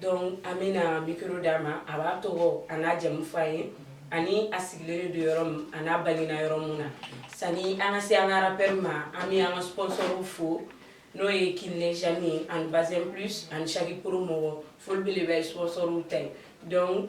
Dɔnku an bɛna mikoro d'a ma a b'a tɔgɔ a n'a jamu fɔ an ye ani a sigilen don yɔrɔ min a n'a bangena yɔrɔ min na sani an ka se an ka rappeur ma an bɛ an ka sponsorw fo n'o ye kinɛɛnensan ye ani bazin plus ani saki pro mɔgɔ foli bɛ de bɛ sponsorw ta yen dɔnku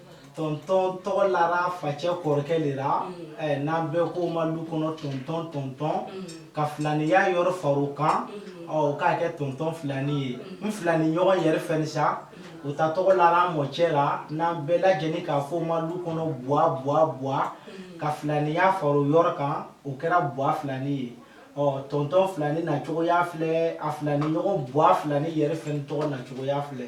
tɔntɔn tɔgɔ lara facɛ kɔrɔkɛ de la n'an bɛ ko ma du kɔnɔ tɔntɔn tɔntɔn ka filaniya yɔrɔ fara kan k'a kɛ tɔntɔn filani ye n filaniɲɔgɔn yɛrɛ fɛ sa u ta tɔgɔ lara mɔcɛ la n'an bɛɛ lajɛlen k'a fɔ ma du kɔnɔ ka filaniya fara yɔrɔ kan o kɛra g filani ye ɔ tɔntɔn filani na cogoya filɛ a filaniɲɔgɔn filani yɛrɛ tɔgɔ na cogoya filɛ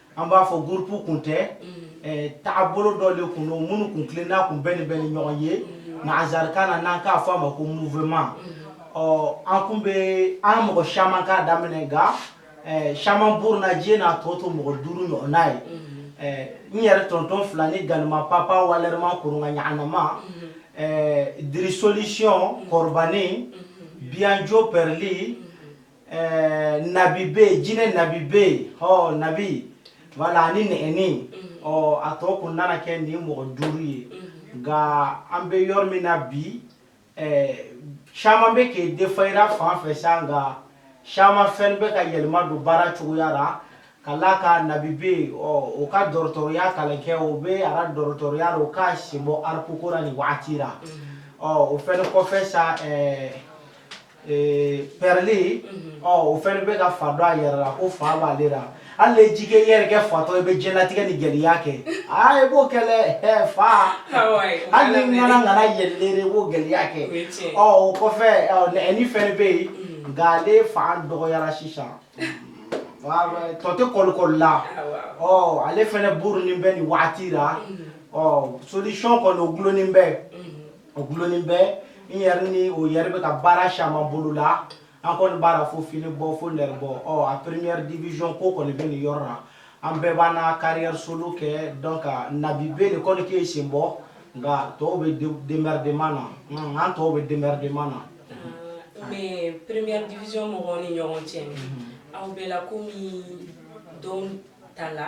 an b'a fɔ groupe kun tɛ taabolo dɔ de tun don minnu tun tilen n'a tun bɛɛ de bɛ ni ɲɔgɔn ye nansarakan na n'an k'a fɔ a ma ko mouvement ɔ an tun bɛ an mɔgɔ caman k'a daminɛ caman abandonnéna a tɔ to mɔgɔ duuru ɲɔgɔn n'o ye n yɛrɛ tɔntɔn filani gama papa wɛrɛma koronkanyma diri solution kɔrɔbannen biyanjo pɛreli Ɛɛ nabi bɛ yen jinɛ nabi bɛ yen ɔ nabi bala ni nɛgɛnin ɔ a tɔ kun nana kɛ nin mɔgɔ duuru ye nka an bɛ yɔrɔ min na bi caman bɛ kɛ denfara fan fɛ sa nka caman fɛn bɛ ka yɛlɛma don baara cogoya la ka la a kan nabi bɛ yen ɔ o ka dɔgɔtɔrɔya kalan kɛ o bɛ a dɔgɔtɔrɔya o k'a sen bɔ rap ko la nin waati la ɔ o fɛn kɔfɛ sa Ee pɛreli o fɛn bɛ ka fa don a yɛrɛ la ko fa b'ale la ale y'i yɛrɛ kɛ fatɔ i bɛ jtigɛ ni gɛlɛya kɛ aa b'o kɛlɛ fa hali nana yɛlɛ b'o gɛlɛya kɛ o nɛgɛnin fɛn bɛ yen nka ale fanga dɔgɔyara sisan tɔ tɛ kɔlɔli la ale fana burunnen bɛ nin waati la ɔ solution kɔni dulonnen bɛ o dulonnen bɛ n yɛrɛ ni o yɛrɛ bɛ ka baara caman bolola an kɔni baara fo fini bɔ fo nɛgɛ bɔ ɔ a première division ko kɔni bɛ nin yɔrɔ la an bɛɛ b'an na carrière solo kɛ donc nabi bɛ de kɔni k'i sen bɔ nka tɔw bɛ démerdement na unhun an tɔw bɛ démerdement na mais première division mɔgɔw ni ɲɔgɔn cɛ aw bɛɛ la komi don ta la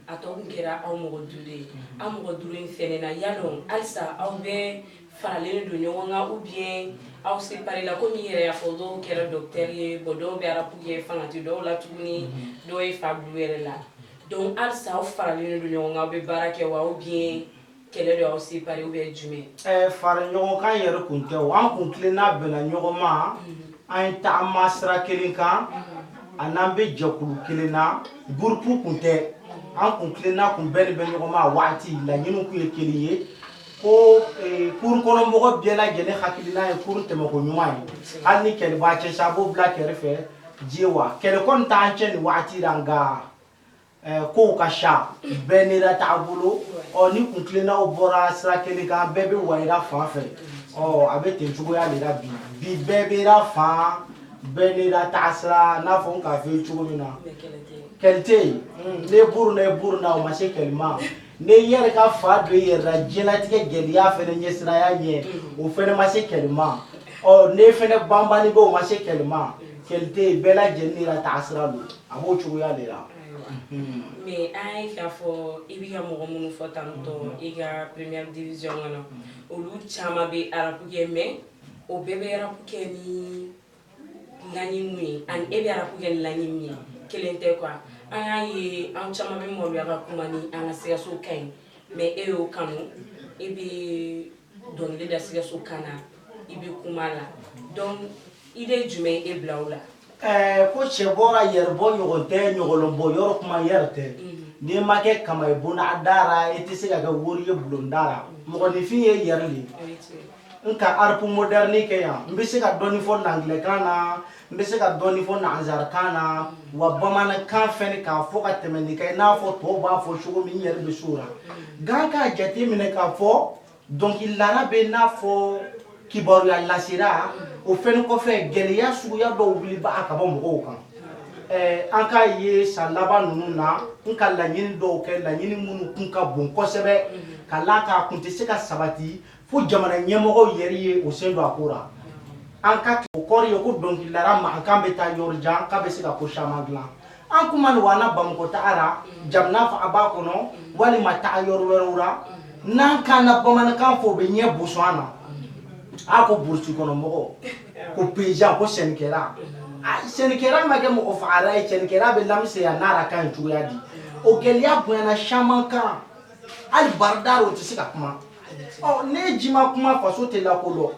a tɔ tun kɛra aw mɔgɔ duuru ye aw mɔgɔ duuru in fɛn na yala halisa aw bɛ faralen don ɲɔgɔn kan ou bien aw séparéla komi i yɛrɛ y'a fɔ dɔw kɛra docteur ye bɔ dɔw bɛ rap kɛ fanga tɛ dɔw la tuguni dɔw ye fa bil'u yɛrɛ la dɔnku halisa aw faralen don ɲɔgɔn kan aw bɛ baara kɛ wa ou bien kɛlɛ dɔ aw se pari bɛ jumɛn ɛɛ fara ɲɔgɔn kan yɛrɛ kun tɛ o an kuntilenna bɛnna ɲɔgɔn ma an ye taama sira kelen kan a n'an bɛ jɛkulu kelen na gurupu kun tɛ an kuntilenna kun bɛnnen bɛ ɲɔgɔn ma a waati laɲini kun ye kelen ye ko ee, kurun kɔnɔ mɔgɔ bɛɛ lajɛlen hakilina ye kurun tɛmɛko ɲuman ye hali ni kɛlɛ b'a cɛ sa a b'o bila kɛrɛfɛ dɛ wa kɛlɛ kɔni t'an cɛ nin waati la nka kow ka ca bɛɛ n'i ka taabolo ɔ ni kuntilennaw bɔra sira kelen kan bɛɛ bɛ wa i ra fan fɛ ɔ a bɛ ten cogoya de la bi bi bɛɛ b'i la fan bɛɛ n'i ka taasira n'a fɔ n k'a f'i ye cogo min na kɛlɛ tɛ yen ne buru na buru na o ma se kɛlɛ ma ne yɛrɛ ka fa don i yɛrɛ la diɲɛlatigɛ gɛlɛya fɛnɛ ɲɛsiraya ɲɛ o fɛnɛ ma se kɛlɛ ma ɔ ne fɛnɛ banbani bɛ o ma se kɛlɛ ma kɛlɛ tɛ yen bɛɛ lajɛlen n'i la taasira don a b'o cogoya de la mais an y'a ye k'a fɔ i bɛ ka mɔgɔ minnu fɔ tantôt i ka première division kɔnɔ olu caman bɛ arapu kɛ mais o bɛɛ bɛ arapu kɛ ni laɲini min ye ani e bɛ arapu kɛ ni laɲini min ye kelen tɛ quoi an y'a ye an caman bɛ maloya ka kuma ni an ka sikaso kan ye mais e y'o kanu e bɛ dɔnkili da sikaso kan na i bɛ kuma la donc idée jumɛn ye e bila o la. Ɛɛ ko cɛ bɔra yɛrɛbɔ ɲɔgɔn tɛ ɲɔgɔlɔnbɔ yɔrɔ kuma yɛrɛ tɛ n'i ma kɛ kaman ye bonda da ra i tɛ se ka kɛ woro ye bulonda la mɔgɔninfin ye yɛrɛ de ye n ka arapu moderni kɛ yan n bɛ se ka dɔɔni fɔ angilɛkan na n bɛ se ka dɔɔni fɔ nansarakan na wa bamanankan fɛnɛ k'a fɔ ka tɛmɛ nin kan i n'a fɔ tɔw b'a fɔ cogo min n yɛrɛ bɛ s'o la nka n k'a jate minɛ k'a fɔ dɔnkilidala bɛ n'a fɔ kibaruya lasera o fɛnɛ kɔfɛ gɛlɛya suguya dɔw wulibaa ka bɔ mɔgɔw kan Eh, an k'a ye san laban ninnu na n ka laɲini dɔw kɛ laɲini minnu kun ka bon kosɛbɛ ka la k'a kun tɛ se ka sabati Fo jamana ɲɛmɔgɔ yɛrɛ ye o sen don a ko la an ka tugu o kɔrɔ ye ko dɔnkilidala mankan bɛ taa yɔrɔ jan k'a bɛ se ka ko caman dilan an tun ma don an na Bamakɔ taga la jamana faaba kɔnɔ walima taga yɔrɔ wɛrɛw la n'an k'an ka bamanankan fɔ o bɛ ɲɛ boson an na a ko burusi kɔnɔ mɔgɔ ko paysan ko sɛnɛkɛla sɛnɛkɛla ma kɛ mɔgɔ fagala ye sɛnɛkɛla bɛ lamisɛnya n'a yɛrɛ ka ɲi cogoya di o gɛlɛya bonyana caman kan hali baarada o tɛ se ka kuma ne ji ma kuma faso tɛ lakodɔn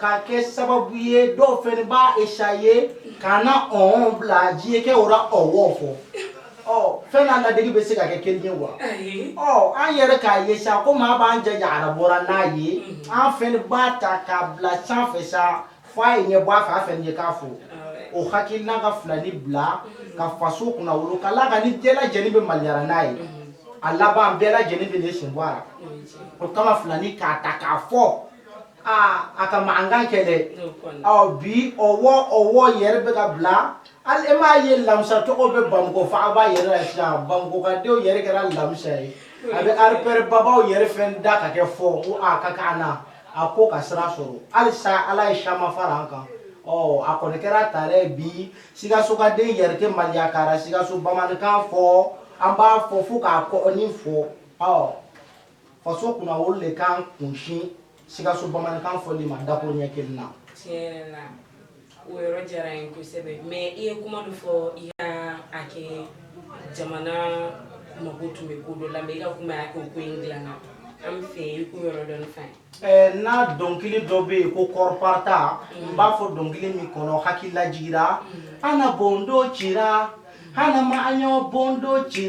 k'a kɛ sababu ye dɔw fɛnɛ b'a essayer ka na ɔ bila diɲɛ kɛ o ɔ fɔ ɔ fɛn n'a lade bɛ se ka kɛ kelen ye wa ɔ an yɛrɛ k'a ye sa ko maa b'an jɛ ara bɔra n'a ye an fɛnɛ b'a ta k'a bila san fɛ sa f a ye ɲɛ bɔ a fɛ a fɛ ɲɛ k'a fo o hakili n'a ka filani bila ka faso kunnawolo ka la ka ni bɛɛ lajɛlen bɛ maloya n'a ye a laban bɛɛ lajɛlen bɛ ne sen bɔ a o kama filani k'a ta k'a fɔ aa a ka mankan kɛ dɛ ɔ bi o o yɛrɛ bɛ ka bila hali e m'a ye lamusa tɔgɔ bɛ bamakɔ fɔ a b'a yɛrɛ la sisan bamakɔkadenw yɛrɛ kɛra lamusa ye a bɛ arepɛrɛ babaaw yɛrɛ fɛn da ka kɛ fɔ ko aa ka k'a na a ko ka sira sɔrɔ halisa ala ye caman fara an kan a kɔni kɛra ta bi sikasokaden yɛrɛ tɛ maloya ka na sikaso bamanankan fɔ an b'a fɔ fo k'a kɔni fɔ ɔ faso kunnawolo ne ka n kunsin sikaso bamanankan fɔni ma dako ɲɛ kelen na O yɔrɔ diyara n ye kosɛbɛ mɛ i ye kuma min fɔ i ka a kɛ jamana mɔgɔ tun bɛ ko dɔ la mɛ i ka kuma y'a ko ko in dilanna an b'a fɛ i k'o yɔrɔ dɔn fɛ n'a dɔnkili dɔ bɛ yen kunkɔrɔta n b'a fɔ dɔnkili min kɔnɔ hakililajigira an bɔndo ci an ma an bɔdo ci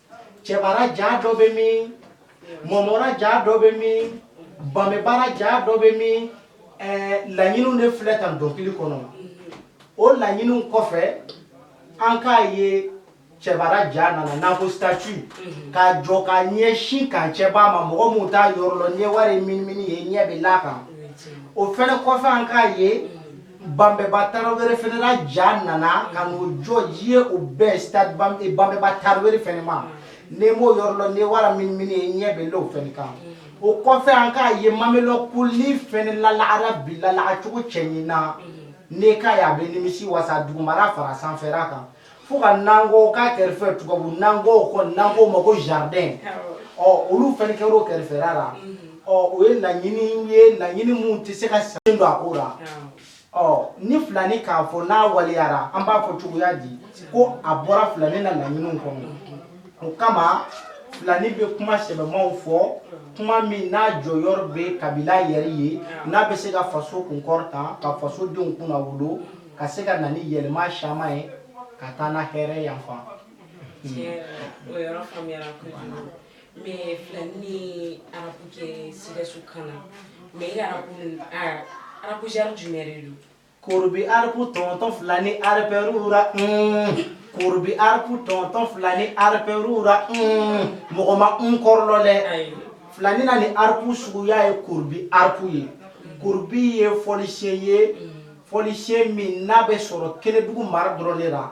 cɛba ra ja dɔ bɛ min mɔmɔ ra ja dɔ bɛ min banbɛba ra ja dɔ bɛ min laɲiniw de filɛ tan dɔnkili kɔnɔ o laɲiniw kɔfɛ an k'a ye cɛba ra ja nana n'an ko statue k'a jɔ ka ɲɛsin camp cɛba ma mɔgɔ minnu t'a yɔrɔ lɔn n'i wara i minimini yen i ɲɛ bɛ l'a kan o fɛnɛ kɔfɛ an k'a ye banbɛba tarawele fɛnɛ ra ja nana ka n'o jɔ yen o bɛ stade banbɛba tarawele fɛnɛ ma n'i m'o yɔrɔ lɔn n'i wara i minimini yen i ɲɛ bɛ l'o fɛnɛ kan o kɔfɛ an k'a ye mamelɔn kulu fɛnɛ lalagara bi lalaga cogo cɛɲi na n'i k'a ye a bɛ nimisi wasa dugumara fara sanfɛra kan fo ka nankɔ k'a kɛrɛfɛ tubabu nankɔ ko nankɔ ma ko jardin ɔ olu fɛnɛ kɛra o kɛrɛfɛra la ɔ o ye laɲini ye laɲini minnu tɛ se ka sen don a ko la ɔ ni filani k'a fɔ n'a waleyara an b'a fɔ cogoya di ko a bɔra filani na laɲiniw kɔnɔ o kama filani bɛ kuma sɛbɛmaw fɔ kuma min n'a jɔyɔrɔ bɛ kabila yɛrɛ ye n'a bɛ se ka faso kunkɔrɔta ka faso denw kunnawolo ka se ka na ni yɛlɛma caman ye ka taa na hɛrɛ yanfan o yɔrɔ faamuyara kojugu mɛ filani ni arapu kɛ sikaso kan na mɛ i arapu arapu genre jumɛn de don korobi arapu tɔntɔn filani arapɛrura korobi arapu tɔntɔn filani arapɛrura mɔgɔ ma n kɔrɔ lɔn dɛ filani na ni arapu suguya ye korobi arapu ye korobi ye fɔlisen ye fɔlisen min n'a bɛ sɔrɔ kenedugu mara dɔrɔn de la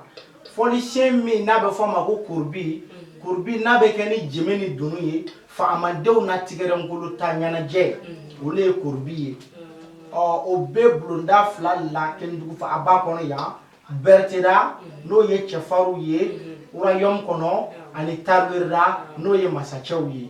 fɔlisen min n'a bɛ fɔ a ma ko kurubi kurubi n'a bɛ kɛ ni jeme ni dunun ye faamadenw na tigɛrɛnkolo ta ɲɛnajɛ o le ye kurubi ye ɔ o bɛ bulonda fila la kenedugu faaba kɔnɔ yan beretera n'o ye cɛfarinw ye royaume kɔnɔ ani tarawerera n'o ye masacɛw ye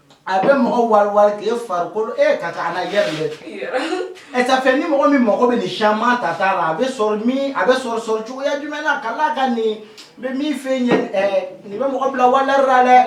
A bɛ mɔgɔ wari k' e farikolokolo e ka taa ala yɛrɛ dɛ ɛ ça fait ni mɔgɔ min mɔgɔ bɛ nin caman ta t'a la a bɛ sɔrɔ min a bɛ sɔrɔ sɔrɔ cogoya jumɛn na ka la kan nin n bɛ min fɛ ɲɛ nin bɛ mɔgɔ bila valeur la dɛ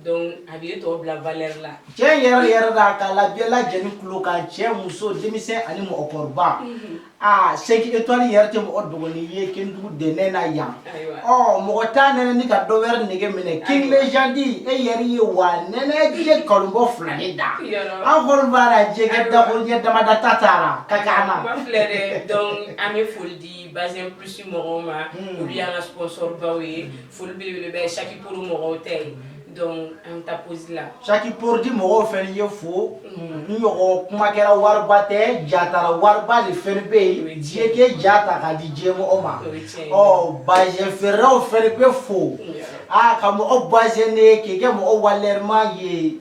Donc a b'i tɔ bila valeur la cɛ yɛrɛ yɛrɛ la k'a la bɛɛ lajɛlen tulo kan cɛ muso denmisɛn ani mɔgɔkɔrɔba unhun aa c'est que étoile yɛrɛ tɛ mɔgɔ dɔgɔnin ye Kénédougou dɛnɛn na yan ayiwa ɔ mɔgɔ t'a nɛnɛ ni ka dɔ wɛrɛ nege minɛ King Légende e yɛrɛ ye wa nɛnɛ ye kalon bɔ fila de da yɔrɔ an kɔni b'a la jɛgɛ dako ɲɛ damada ta t'a la ka k'an na kuma filɛ dɛ donc an bɛ foli di Bazin Plus mɔgɔw ma olu y'an ka sponsor baw ye foli belebele bɛ saki Prod mɔgɔw tɛ ye donc an ta posi la saki Prod mɔgɔw fɛnɛ fo n ɲɔgɔn kuma kɛra wariba tɛ jatara wariba de fɛn bɛ yen diɲɛ ke ja ta k'a di diɲɛ mɔgɔ ma ɔ bazɛn feerew fɛn bɛ fo aa ka mɔgɔ bazɛn de k'i kɛ mɔgɔ valeurma ye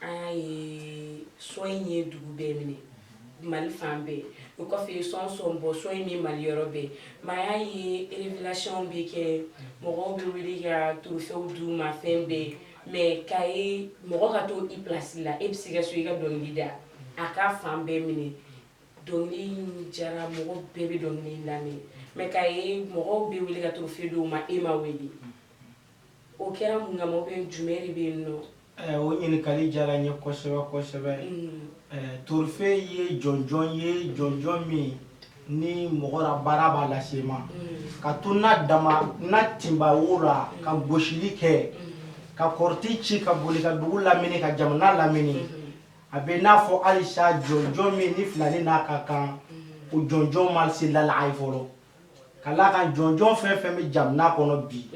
an ye sɔn in ye dugu bɛɛ minɛ mali fan bɛɛ o kɔfɛ ye sɔn sɔn bɔ sɔn in min mali yɔrɔ bɛɛ ma y'a ye révélationw bɛ kɛ mɔgɔw bɛ wuli ka torofe d'u ma fɛn bɛɛ mais k'a ye mɔgɔ ka to i place la e bɛ se ka so i ka dɔnkili da a ka fan bɛɛ minɛ dɔnkili diyara mɔgɔ bɛɛ bɛ dɔnkili lamɛn mais k'a ye mɔgɔw bɛ wuli ka torofe d'u ma e ma wele O kɛra mun kama ou bien jumɛn de bɛ yen nɔ? Ɛɛ o ɲininkali diyara n ye kosɛbɛ kosɛbɛ. Ɛɛ torofe ye jɔnjɔn ye jɔnjɔn min ni mɔgɔ la baara b'a lase i ma ka to na dama na tinba wo la ka gosili kɛ ka kɔrɔti ci ka boli ka dugu lamini ka jamana lamini a bɛ n'a fɔ halisa jɔnjɔn min ni filani n'a ka kan o jɔnjɔn ma se lalaga a ye fɔlɔ. ka la kan jɔnjɔn fɛn fɛn bɛ jamana kɔnɔ bi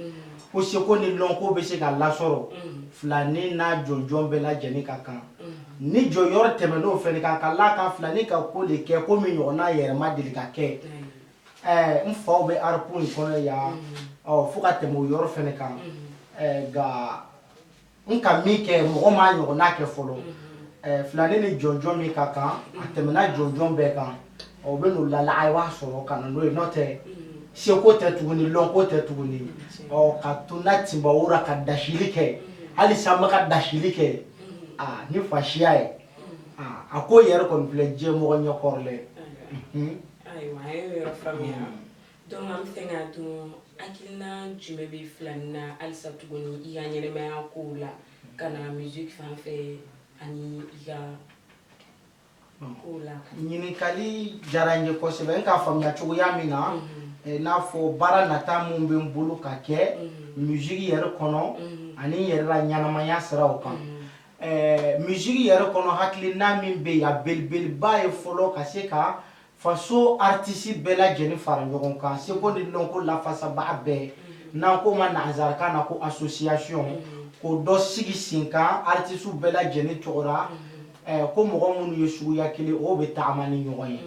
ko seko ni lɔnko bɛ se ka lasɔrɔ filanin n'a jɔnjɔn bɛɛ lajɛlen ka kan ni jɔyɔrɔ tɛmɛnen o fɛnɛ kan ka la kan filanin ka ko de kɛ ko min ɲɔgɔn n'a yɛrɛ ma deli ka kɛ n faw bɛ Afrique kɔnɔ yan fo ka tɛmɛ o yɔrɔ fɛnɛ kan nka n ka min kɛ mɔgɔ m'a ɲɔgɔnna kɛ fɔlɔ mhm. filani ni jɔnjɔn min ka kan a tɛmɛna jɔnjɔn bɛɛ kan o bɛ n'o lala a b'a sɔrɔ ka na n'o ye n'o tɛ mhm. seko tɛ tuguni lɔnko tɛ tuguni mhm. ɔ ka to na tinbawo ra ka dasili kɛ hali sanba ka dasili kɛ aa ni fasiya ye a ko yɛrɛ kɔni filɛ diɲɛ mɔgɔ ɲɛkɔrɔlɛ ayiwa a ye yɔrɔ faamuya Donc an b'a fɛ k'a dɔn hakilina jumɛn bɛ filani na halisa tuguni i ka ɲɛnamaya ko la ka na miziki fan fɛ ani yan ko la ɲininkali diyara n ye kosɛbɛ n k'a faamuya cogoya min na n'a fɔ baara nata minnu bɛ n bolo ka kɛ miziki yɛrɛ kɔnɔ ani n yɛrɛ ra ɲɛnamaya siraw kan miziki yɛrɛ kɔnɔ hakilina min bɛ yan belebeleba ye fɔlɔ ka se ka faso aritisi bɛɛ lajɛlen fara ɲɔgɔn kan seko ni lɔnko lafasabaga bɛɛ mhm. n'an k'o ma nanzarakan na ko association mhm. k'o dɔ sigi sen kan aritisiw bɛɛ lajɛlen tɔgɔ ra mhm. ko mɔgɔ minnu ye suguya kelen o bɛ tagama ni ɲɔgɔn ye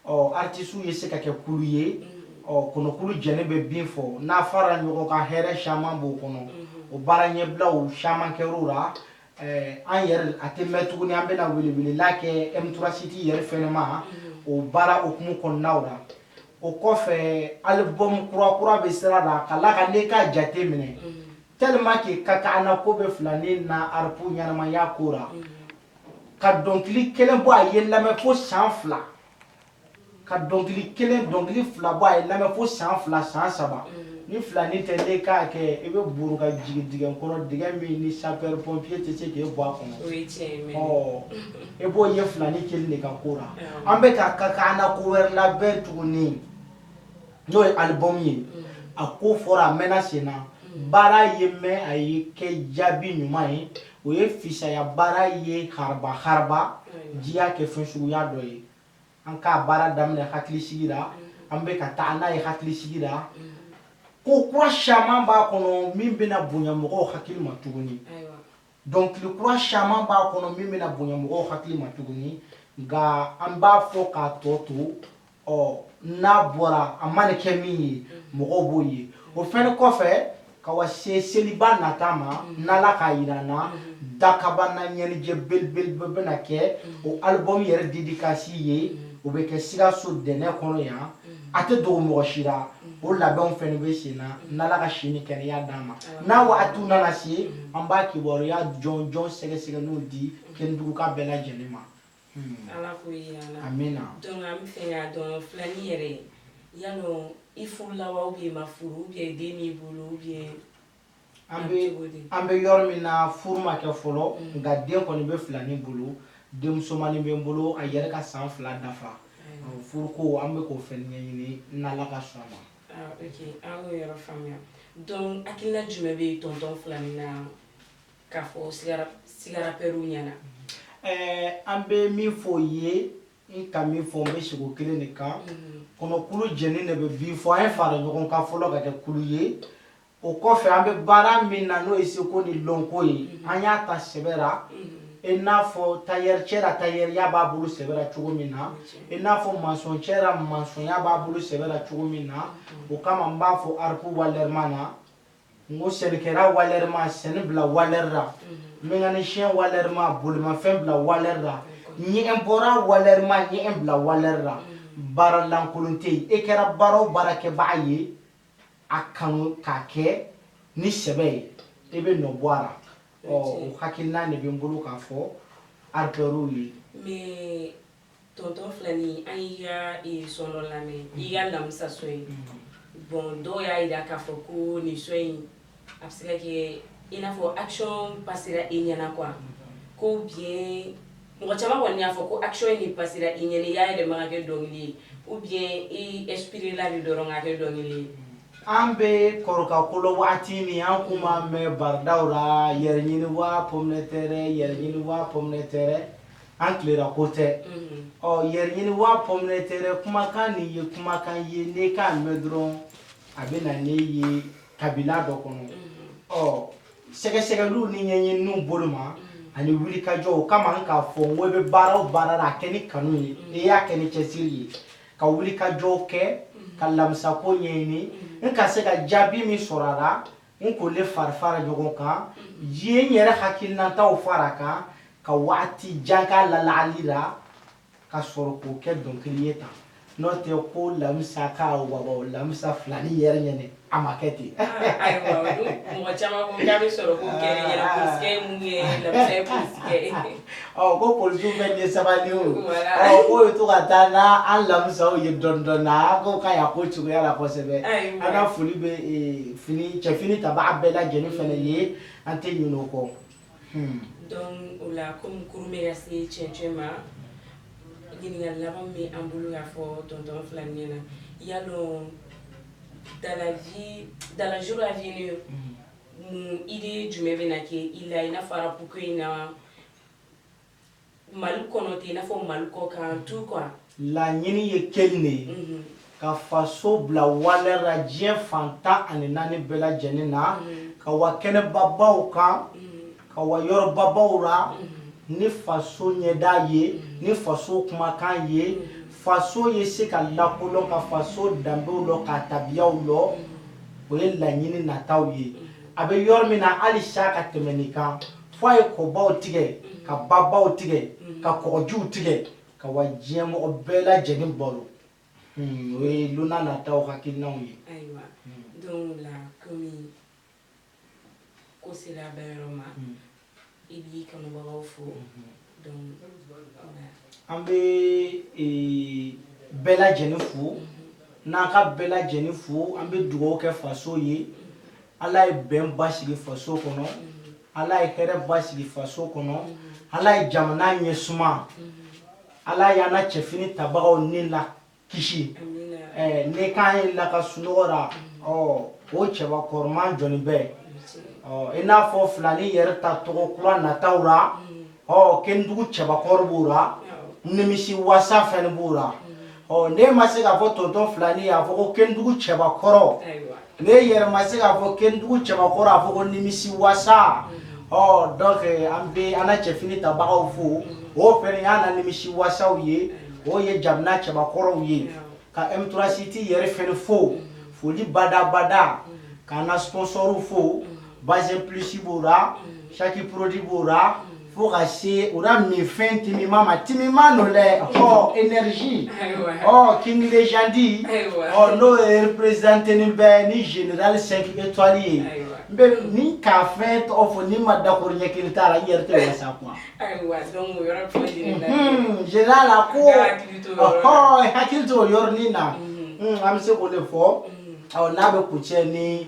ɔ aritisiw ye se ka kɛ kulu ye ɔ kɔnɔkulu jɛlen bɛ bin fɔ n'an fara ɲɔgɔn kan hɛrɛ caman b'o kɔnɔ o baara ɲɛbilaw caman kɛr'o la Ɛɛ an yɛrɛ a tɛ mɛn tuguni an bɛna welewelela kɛ eturasiti yɛrɛ fɛnma o baara hukumu kɔnɔnaw la o kɔfɛ albɔmu kurakura bɛ sira la ka na ka ne ka jate minɛ tellement k'i ka ka an mako bɛ filani na arapu ɲɛnamaya ko la ka dɔnkili kelen bɔ a ye lamɛn fo san fila ka dɔnkili kelen dɔnkili fila bɔ a ye lamɛn fo san fila san saba ni filani tɛ ne k'a kɛ i bɛ burun ka jigin dingɛ kɔnɔ dingɛ min ni sapɛri pɔnpiye tɛ se k'e bɔ a kɔnɔ e b'o ye filani kelen de ka ko la an bɛ ka taa k'an na ko wɛrɛ labɛn tuguni n'o ye albɔmu ye a ko fɔra a mɛnna sen na baara ye mɛn a ye kɛ jaabi ɲuman ye o ye fisaya baara ye haraba haraba diya kɛ fɛn suguya dɔ ye An k'a baara daminɛ hakilisigi la an bɛ ka taa n'a ye hakilisigi la ko kura caman b'a kɔnɔ min bɛna bonya mɔgɔ hakili ma tuguni dɔnkili kura caman b'a kɔnɔ min bɛna bonya mɔgɔ hakili ma tuguni nka an b'a fɔ k'a tɔ to ɔ n'a bɔra a mana kɛ min ye mɔgɔ b'o ye o fɛn kɔfɛ ka wa se seliba nata ma mm-hmm. n'ala k'a yira an na mm-hmm. dakabana ɲɛnijɛ belebeleba bɛna kɛ mm-hmm. o albɔmu yɛrɛ dedikasi ye o bɛ kɛ sikaso dɛnɛ kɔnɔ yan a tɛ dogo mɔgɔ si la o labɛnw fɛnɛ bɛ sen na n'ala ka si ni kɛnɛya d'an ma n'a wagatiw nana se an b'a kibaruya jɔnjɔn sɛgɛsɛgɛlenw di kɛnɛduguka bɛɛ lajɛlen ma Hmm. Ala ko yira la an bɛna dɔn an b'a fɛ k'a dɔn filanin yɛrɛ ye ya dɔn i furu laban bɛ ma furu bɛ den min bolo bɛ an bɛ an bɛ yɔrɔ min na furu ma kɛ fɔlɔ hmm. nka den kɔni bɛ filanin bolo denmusomannin bɛ n bolo a yɛrɛ ka san fila dafa hmm. furu ko an bɛ k'o fɛn ɲɛɲini n'ala ka sɔn a ma ah, an yɔrɔ faamuya dɔn hakilila jumɛn bɛ tɔntɔn filanin na K'a fɔ sigarafɛnw ɲɛna an bɛ min fɔ o ye n ka min fɔ n bɛ segin o kelen de kan kɔnɔkulu jɛnin de bɛ bii fɔ a ye fara ɲɔgɔn kan fɔlɔ ka kɛ kulu ye o kɔfɛ an bɛ baara min na n'o ye seko ni dɔnko ye an y'a ta sɛbɛ la i n'a fɔ tayɛricɛ la tayɛriya b'a bolo sɛbɛ la cogo min na i n'a fɔ masɔncɛ la masɔnya b'a bolo sɛbɛ la cogo min na o kama n b'a fɔ a la ko walɛri ma na n ko sɛnɛkɛla walɛri ma sɛnɛ bila walɛri la mekanisiyɛn walɛri ma bolimafɛn bila walɛri la ɲɛgɛnbɔla walɛri ma ɲɛgɛn bila walɛri la baara lankolon tɛ yen e kɛra baara o baara kɛbaga ye a kanu k'a kɛ ni sɛbɛ ye e bɛ nɔ bɔ a la ɔ o hakilina de bɛ n bolo k'a fɔ akitɛriw ye. Tɔntɔn Fila an ye sɔn lamɛn i ka lamisa sɔn in bon dɔw y'a jira k'a fɔ ko nin sɔn in a bɛ se kɛ i n'a fɔ asɔn ba sera i ɲɛna kuwa ko bi mɔgɔ caman kɔni y'a fɔ ko asɔn in ni ba sera i ɲ y'a yɛrɛ makɛ dɔnkili ye u bi epla ni dɔnkɛ dɔnkili ye an bɛ kɔrɔka kolo waati min an tun b'a mɛn barodaw la yɛrɛ ɲini waa pɛ yɛrɛ ɲini waa pɛ tɛ an tilela ko tɛ ɔ yɛrɛɲini waa pɔmitɛri kumakan nin ye kumakan ye ne k'a mɛn dɔrɔn a bɛ na ne ye k'a bila dɔ kɔnɔ ɔ sɛgɛsɛgɛliw ni ɲɛɲiniw bolo ma ani wulikajɔ o kama n k'a fɔ n ko i bɛ baara o baara la a kɛ ni kanu ye e y'a kɛ ni cɛsiri ye ka wulikajɔw kɛ ka lamisa ko ɲɛɲini n ka se ka jaabi min sɔrɔ a la n k'o le farifara ɲɔgɔn kan ye n yɛrɛ hakilinataw fara a kan ka waati jan k'a lalagali la ka sɔrɔ k'o kɛ dɔnkili ye tan n'o tɛ ko lamisa ka waba lamisa filani yɛrɛ ɲɛna a ma kɛ ten mɔgɔ caman ko k'a bɛ sɔrɔ ko kɛra yɛrɛ polisikɛ ye mun ye lamisa ye polisikɛ ye Ɔ ko police bɛɛ ye sabali ye o k'o bɛ to ka taa n'an lamisaw ye dɔɔnin dɔɔnin na a ko k'a y'a ko cogoya la kosɛbɛ an ka foli bɛ fini cɛfini tabaa bɛɛ lajɛlen fana ye an tɛ ɲinɛ o kɔ donc o la comme kurun bɛ ka se cɛncɛn ma ɲininkali laban min bɛ an bolo k'a fɔ tonton Fila ɲɛna yala dans les jours dans les jours à venir Mun idée jumɛn bɛ na kɛ i la, i n'a fɔ rap ko in na Mali kɔnɔ ten, i n'a fɔ Mali kɔ kan tout quoi? Laɲini ye kelen de ye, unhun, ka faso bila valeur la diɲɛ fan tan ani naani bɛɛ lajɛlen na, unhun, ka wa kɛnɛbabaw kan, unhun. ka wa yɔrɔbabaw la ni faso ɲɛda ye ni faso kumakan ye faso ye se ka lakolɔn ka faso danbew lɔn ka tabiyaw lɔn o ye laɲini nataw ye a bɛ yɔrɔ min na hali sa ka tɛmɛ nin kan fo a ye kɔbaw tigɛ ka babaw tigɛ ka kɔgɔjiw tigɛ ka wa diɲɛ mɔgɔ bɛɛ lajɛlen bolo hmm, o ye lon nataw hakilinanw ye ko sera bɛɛ yɔrɔ ma mm. i b'i kanubagaw fo mm-hmm. donc an bɛ e, bɛɛ lajɛlen fo mm-hmm. n'an ka bɛɛ lajɛlen fo an bɛ dugawu kɛ faso ye mm-hmm. ala ye bɛn basigi faso kɔnɔ ala ye hɛrɛ basigi faso kɔnɔ ala ye jamana ɲɛ suma ala y'an na cɛfini tabagaw ni la kisi eh, ne kan ye la ka sunɔgɔ la ɔ o cɛba kɔrɔman jɔni bɛ ɔ i n'a fɔ filani yɛrɛ ta tɔgɔ kura nataw la ɔ kendugu cɛbakɔrɔ b'o la nimisi wasa fɛnɛ b'o la ɔ ne ma se k'a fɔ tonton filani y'a fɔ ko kendugu cɛbakɔrɔ N yɛrɛ ma se k'a fɔ kendugu cɛbakɔrɔ a fɔ ko nimisi wasa ɔ donc an bɛ an na cɛfini tabagaw fo o fɛnɛ y'an na nimisi wasaw ye o ye jamana cɛbakɔrɔw ye ka eturasiti yɛrɛ fɛnɛ fo foli badabada k'an ka sponsorw fo bazin plus b'o la saki produit b'o la fo ka se o la minfɛn timiman timimannu dɛ ɔ energie ɔ king légende ɔ n'o ye représenteni bɛ ni général 5 étoile ye n bɛ ni k'a fɛn tɔgɔ fɔ ni ma dakoro ɲɛ kelen t'a la i yɛrɛ tɛ wasa kuma général a ko ɔhɔ hakili to o yɔrɔnin na an bɛ se k'o de fɔ ɔ n'a bɛ kuncɛ ni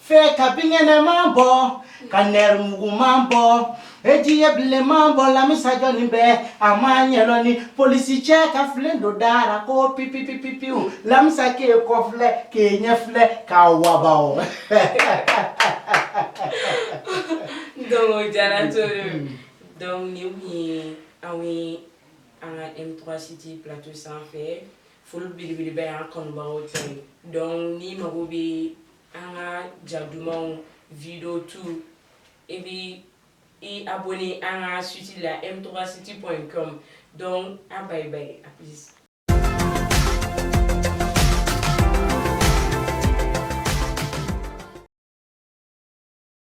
Fɛ ka binkɛnɛman bɔ ka nɛrɛmuguman bɔ e ji ye bilenman bɔ lamisa jɔni bɛ a ma ɲɛdɔn ni polisicɛ ka filen don da ra ko ppipippiwu lamisa k'i kɔ filɛ k'i ɲɛ filɛ ka waba diyara to donc nin ye an ye an ka etobasiti bilato sanfɛ foli belebeleba an kanubaw cɛ dɔn ni mago bɛ an ka ja dumanw video tu i bɛ i abonné an ka site la m3site.com donc a bye bye a plus